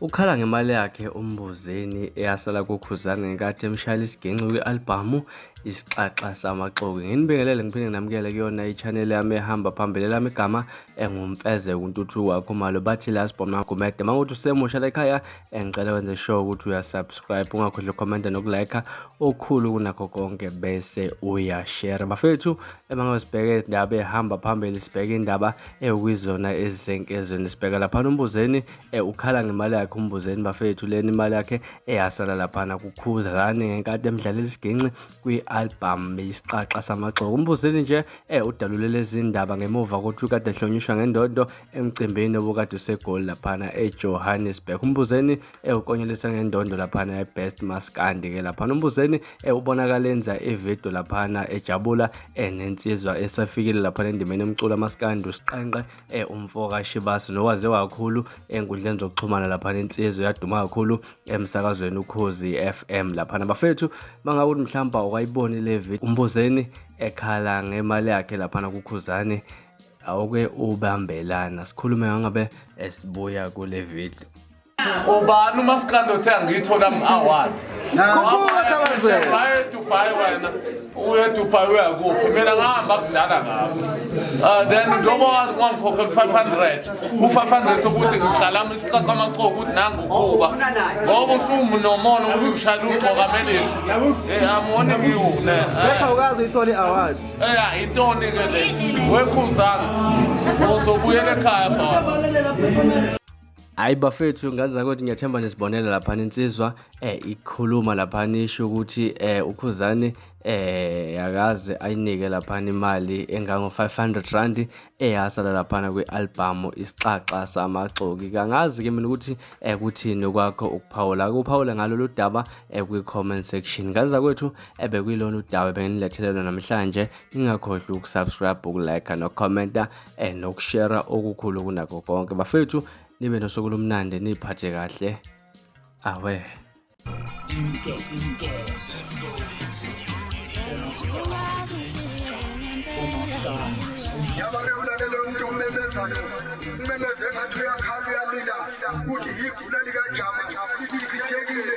Ukhala ngemali yakhe uMbuzeni eyasala kuKhuzani ngenkathi emshayela isiginci kwi-albhamu Isixaxa Samaxoki. Nginibingelele ngiphinde nginamukele kuyona i-channel yami ehamba phambili lami igama engumfeze kuntuthuko wakho malo bathi last bomb nagumede uma ukuthi usemusha la ekhaya engicela wenze sure ukuthi uyasubscribe ungakhohlwa ukhomenta nokulike okukhulu kunakho konke bese uyashare bafethu Uma ngisibheke indaba ehamba phambili sibheke indaba ewizona ezisenkezweni sibheka laphana umbuzeni eh, ukhala ngemali yakhe umbuzeni bafethu leni imali yakhe eyasala laphana kukhuzane ngenkathi emdlalela isiginci kwi-album isixaxa samagxoko umbuzeni nje eh, udalule lezi ndaba ngemuva kokuthi ukade ehlonishwa ngendondo emcimbini obukade usegoli laphana ejohannesburg umbuzeni ewukonyelisa ngendondo laphana ebest maskandi ke laphana umbuzeni ewubonakala enza ividiyo laphana ejabula enensizwa esafikile laphana endimeni emcula maskandi usiqenqe e, umfoka shibasi nowaze kakhulu enkundleni zokuxhumana laphana insizwa yaduma kakhulu emsakazweni ukhozi FM laphana bafethu mangakuthi mhlawumbe awukayiboni le video umbuzeni ekhala ngemali yakhe laphana kukhuzane awuke ubambelana sikhulume ngangabe esibuya kule video ubani umasikandi othe angiyithola ama-award Khuphuka Tabazela. baye dubai wena uye dubai uyakuphi mina ngahamba kudala ngabo um then njengoba wazi kwangikhokhe ku-five hundred u-five hundred ukuthi ngigxalama isicaca amaxoku ukuthi nangukuba ngoba usumunomona ukuthi ngishayela ugcoka melili Eh, amoni ngiwune Betha ukazi uyithola i-award. eya yintoni-ke le wekhuzanga uzobuyela ekhaya baba hayi bafethu ngane zakwethu ngiyathemba nisibonela laphana insizwa eh ikhuluma laphana isho ukuthi eh ukhuzane eh yakaze ayinike laphana imali engango 500 rand eyasala laphana kwi-album isixaxa samaxoki kangazi ke mina ukuthi eh kuthini kwakho ukuphawula kuphawula ngalolu daba eh kwi-comment section ngane zakwethu ebekuyilona eh, udaba benginilethele lona namhlanje ningakhohlwa ukusubscribe ukulike nokukhomenta eh nokushera okukhulu kunakho konke bafethu nibe nosuku lomnandi niphathe kahle awe Inke, inke, yabake ulalele umuntu omemezayo umemeze ngathi uyakhala uyalila ukuthi yigula likajama lichithekile